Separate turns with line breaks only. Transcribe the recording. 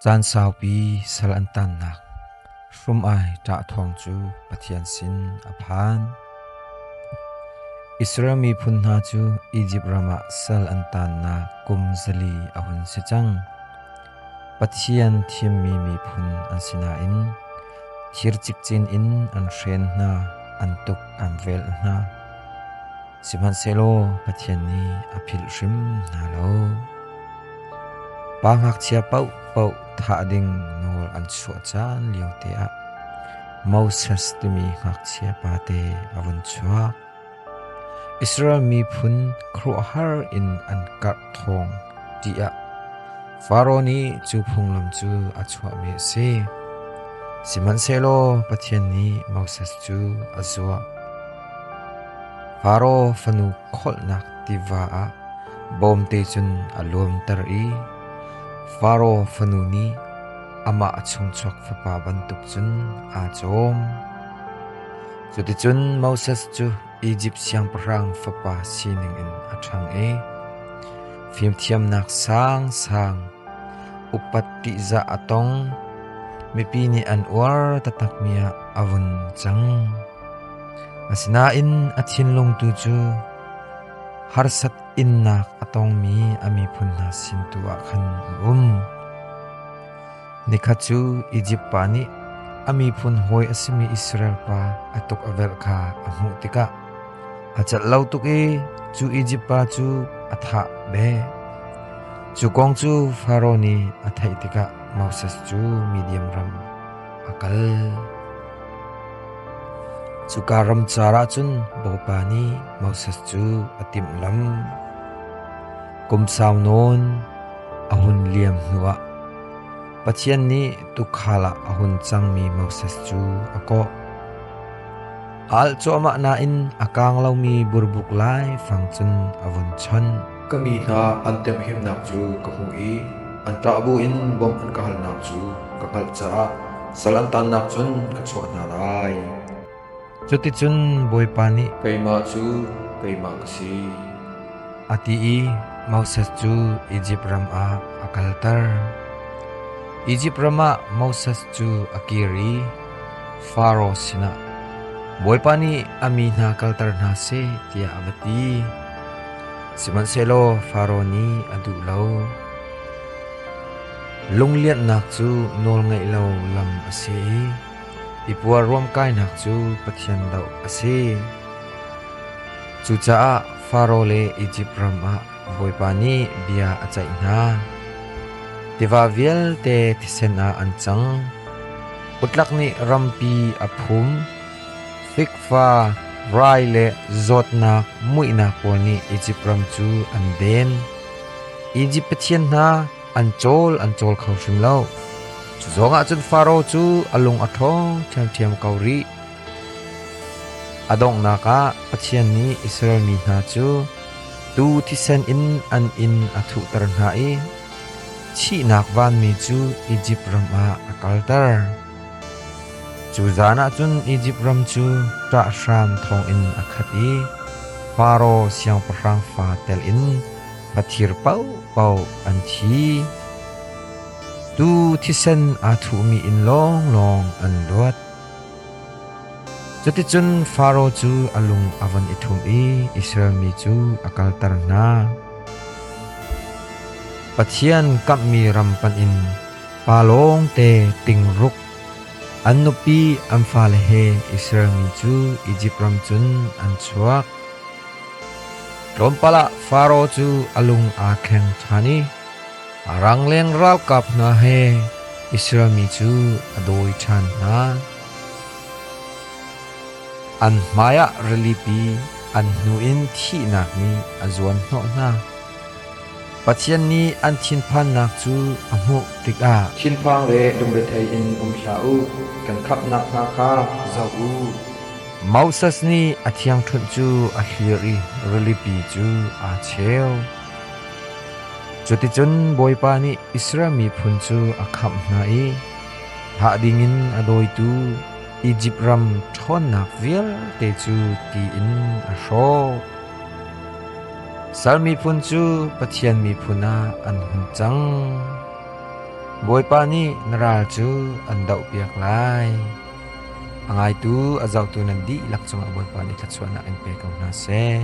Caan saupi sal an tannak hrum ai ṭah thawng cu Pathian sin a phan. Israel miphun hna cu Izipt ram ah sal an tannak kum zali a hun si cang. Pathian thimmi miphun an sinain thir cikcin in an hren hna, an tuk an velh hna. Sihmanhsehlaw Pathian nih a philh hrim hna lo. Pa ngakchia paohpaoh thah ding nawl an chuah caan liote ah Moses timi ngakchia pate a vun chuak. Israel miphun khuaruahhar in an karh thawng tiah Faraoh nih cu phunglam cu a chuahmi a si. Sihmanhsehlaw Pathian nih Moses cu a zuah. Faro fanu kholhnak tiva ah bawmte cun a luamter i Faro fanu nih amah a chungchuak fapa bantuk cun aa cawm. Cuticun Moses cu Izipt siangpahrang fapa sining in a ṭhang i fimthiamnak sangsang, upat ṭihzah a tong, mipi nih an uar taktakmi ah a vun cang. Asinain a thinlung tu cu harsat innak a tongmi a miphun hna sin tu ah khan a um. Nikhat cu Izipt pa nih a miphun hawi a simi Israel pa a tuk a velh kha a hmuh tikah a cat lo tuk i cu Izipt pa cu a thah ve. Cu kong cu Faro nih a theih tikah Moses cu mi diam ram, a kal. Cuka ramcar ah cun Bawipa nih Moses cu a timhlam. Kum sau nawn a hun liam hnuah Pathian nih tuukhal ah a hun cangmi Moses cu a kawh. A alh cuahmah nain a kaang lomi burbuk lai fang cun a vun chawnh. Ka mi hna an temhimnak cu ka hmuh i an ṭah buin bawmh an ka halnak cu ka hngalh caah sal an taannak cun ka chuah hna lai. Cuticun Bawipa nih keimah cu keimah ka si, a ti i Moses cu Izipt ram ah a kalter. Izipt ram ah Moses cu a kir i Faro sinah, “Bawipa nih a mi hna kalter hna seh,” tiah a va ti. Sihmanhsehlaw Faro nih a duh lo. Lunglianhnak cu nawlngaih lo lam a si i i puar ruamkainak cu Pathian doh a si. Cucaah Faro le Izipt ram ah Bawipa nih bia a ceih hna. Tiva vialte thisen ah an cang. Utlak nih rampi a phum. Fikfa, rai le zawtnak muihnak pawl nih Izipt ram cu an den. Izipt pathian hna an cawl an cawl kho hrim lo. Cu zongah cun Faro cu a lung a ṭhawng ṭhiamṭhiam ko rih. A donghnak ah Pathian nih Israel mi hna cu tuu thisen in an inn a thuhter hna i thihnak vanmi cu Izipt ram ah a kalter. Cu zan ah cun Izipt ram cu ṭah hram thawngin a khat i Faro siangpahrang fa telin va thir paohpaoh an thi. Tuu thisen aa thuhmi in lawnglawng an luat. Cuticun Faro cu a lung a von i thum i Israel mi cu a kalter hna. Pathian kamhmi ram panh in Pa lawngte ting ruk. An nupi an fale he Israelmi cu Izipt ram cun an chuak. Tlawmpal ah Faro cu a lung aa thleng ṭhan i a rangleng ralkap hna he Israelmi cu a dawi ṭhan hna. An hmaiah rilipi an hnu in thihnak nih a zuan hnawh hna. Pathian nih an thinphannak cu a hmuh tikah thinphang le lungrethei in um hlah u, kan khamhnak hna kha zoh u. Moses nih a thiangṭhunh cu a thlir i rilipi cu aa cheu. Cuticun Bawipa nih Israel miphun cu a khamh hna i thah dingin a dawitu Izipt ram ṭhawnnak vialte cu ti in a hrawh. Sal miphun cu Pathian miphun ah an hun cang. Bawipa nih na ral cu an dohpiak lai. A ngaitu a zohtu nan dihlak cungah Bawipa nih thluachuahnak in pe ko hna seh.